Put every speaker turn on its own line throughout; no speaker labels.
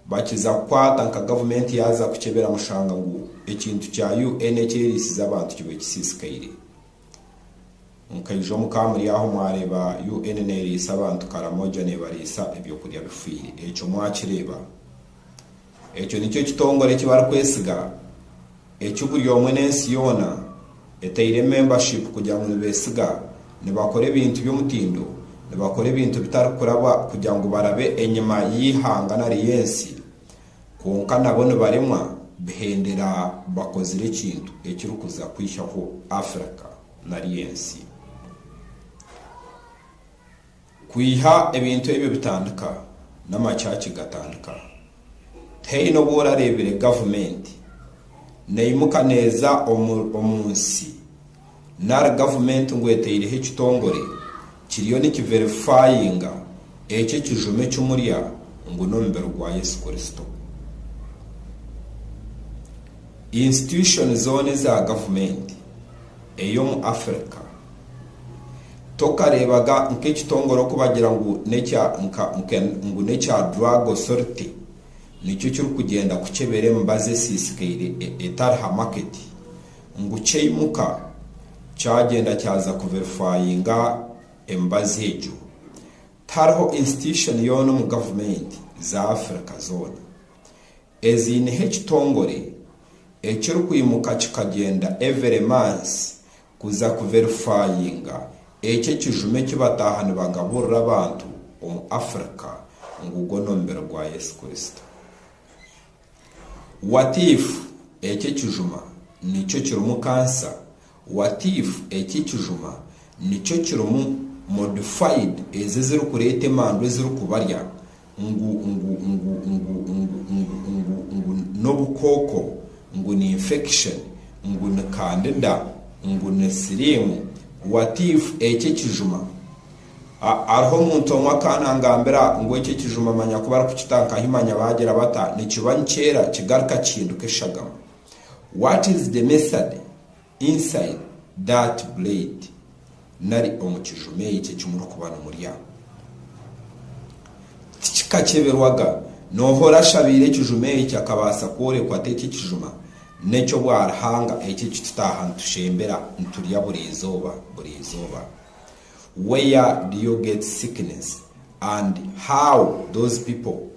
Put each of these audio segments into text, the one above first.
Bakiza kukwata nka gavumenti yaaza kukyebera mushanga ngu ekintu kya UN ekyeriisize abantu kiba ekisiisikaire. Nkaija omu ka muri aho mwareeba UN neeriisa abantu Karamoja neebariisa ebyokurya bifiire. Ekyo mwakireeba? Ekyo nikyo kitongore eki barikwesiga Eki buri omwe n'ensi yoona eteire membership kugira ngu nibesiga, nibakora ebintu by'omutindo, nibakora ebintu bitarikuraba kugira ngu barabe enyima y'eihanga nari y'ensi, kwonka nabo nibaremwa bihendera bakozire ekintu ekirikuza kwihaho Africa nari ensi. Kwiha ebintu ebyo bitandika, n'amachachi gatandika. Tihaine obu orareebire gavumenti neyimuka neeza omu nsi nari gavumenti ngu eteireho ekitongore kiriyo nikiverifayinga ekyo ekijuma eki murya ngu n'omubiri gwa Yesu Kristo. Insitushoni zoona eza gavumenti ey'omu Afirika. Tokareebaga nk'ekitongore okubagira ngu n'ekya nka nke ngu n'ekya Drug Authority nikyo kirikugyenda kukyebera emibazi esiisikaire e, etari ha maketi, ngu kyaimuka kyagyenda kyaza kuverifayinga emibazi egyo. Tihariho insititushoni yoona omu gavumenti za Afirika zoona Eziineho ekitongore ekirikwimuka kikagyenda evere mansi kuza kuverifayinga ekyo ekijuma eki bataaha nibagaburira abantu omu Africa ngu gwo n'omubiri gwa Yesu Kristo. Watiifu ekyo ekijuma nikyo kirimu kansa What if eki ekijuma nikyo kirimu modified ezi ezirikureeta emandu ezirikubarya ngu ngu ngu ngu ngu ngu ngu ngu n'obukooko ngu ni infection ngu ni candida ngu ni siriimu what if eki ekijuma Ah hariho omuntu omwe akaanangambira ngu eki ekijuma manya ku barikukita nka ahi manya baagira bata nikiba nikyeera kigaruka kihinduka eshagama. What is the method inside that blade nari omu kijuma ekyo eki murikuba nimurya? Tikikakyeberwaga. Noha orashabaire ekijuma ekyo akabaasa kworekwa ati eki ekijuma n'eky'obwaruhanga eki eki tutaaha nitushembera niturya buri izooba buri izooba? Where do you get sickness and how those people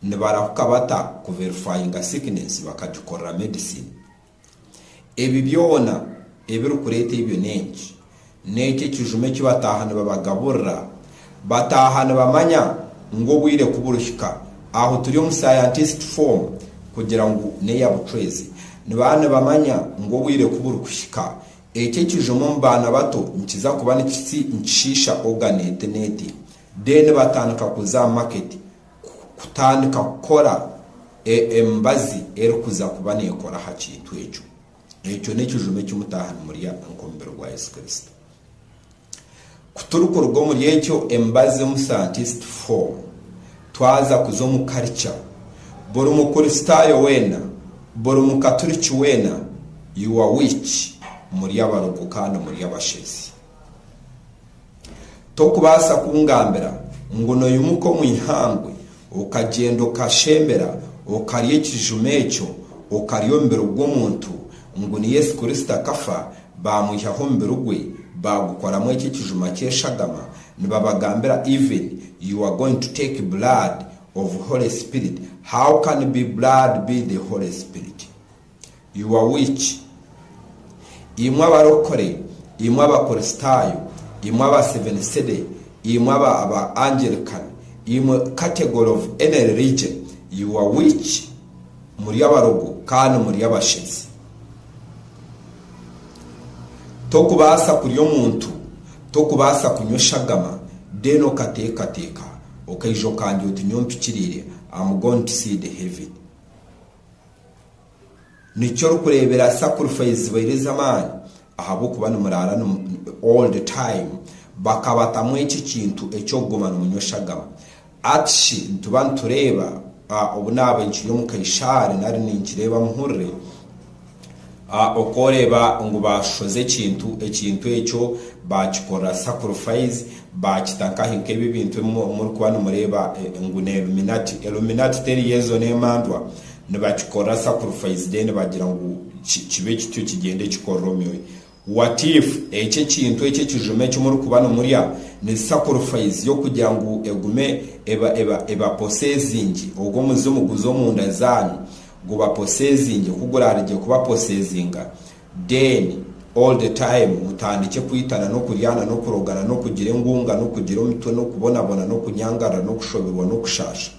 nibarahuka bata ku verifyinga sickness bakagikorera medicine? Ebi byona ebirikureeta ebyo n'enki? N'ekyo ekijuma eki bataaha nibabagaburira? Bataaha nibamanya ngu obwire ku burihika, aho turi omu scientist form kugira ngu n'eya bucwezi, nibaba nibamanya ngu obwire ku burikuhika, eki ekijuma omu baana bato nikiza kuba nikishiisha organ eti n'eti, then batandika kuza aha market, kutandika kukora emibazi erikuza kuba neekora aha kintu ekyo. Ekyo n'ekijuma eki mutaaha nimurya nk'omubiri gwa Yesu Kristo. Ku turikuruga omuri ekyo, emibazi omu scientist form, twaza kuza omu culture, buri Mukristaayo weena, buri Mukaturiki weena, you are which? Muri abarogo kandi muri abashezi. Tokubaasa kungambira ngu noyimuka omu ihangwe okagyenda okashembera okarya ekijuma ekyo okarya omubiri gw'omuntu ngu ni Yesu Kristo akafa bamwihaho omubiri gwe bagukoramu ekyo ekijuma ky'eshagama nibabagambira even you are going to take blood of Holy Spirit how can be blood be the Holy Spirit? You are which? Imwe abarokore, imwe abakorisitayo, imwe aba seven city, imwe aba aba Angelican, imwe category of any religion, you are which? Muri abarogo kandi muri abashezi. Tokubaasa kurya omuntu, tokubaasa kunywa eshagama then okateekateeka okaija okandya oti nyowe mpikiriire, am going to see the heaven. Nikyo orikureebera sacrifice zibaire ez'amaani ahabw'okuba nimuraara all the time. Bakabatamu ekyo ekintu eky'okuguma nimunywa eshagama. Ati shi nituba nitureeba obu naabaire nkiri omu kaishaari nari ninkireeba muhurire A Okworeba ngu baashohoza ekintu, ekintu ekyo baakikorera sacrifice, baakita nkahi? Nk'ebi ebintu ebi murikuba nimureeba ngu ni Illuminati. Illuminati teri y'ezo n'emandwa. Nibakikorera sacrifice then bagira ngu ki, kibe kityo kigyende kikorera omyoyo. What if ekyo ekintu ekyo ekijuma eki murikuba nimurya ni sacrifice y'okugira ngu egume eba, eba, eba possessing, ogwo omuzimu guze omunda zaanyu, gubaposezinge ku gurarigye kubaposezinga then all the time mutandikye kwitana n'okuryana n'okurogana n'okugira engunga n'okugira omitwe n'okubonabona n'okunyangarira n'okushoberwa n'okushasha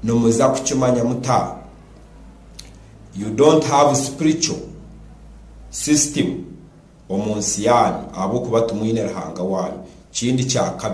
nimuza kukimanya muta you don't have spiritual system omu nsi yanyu ahabw'okuba timwine Ruhanga wanyu kindi kya kabiri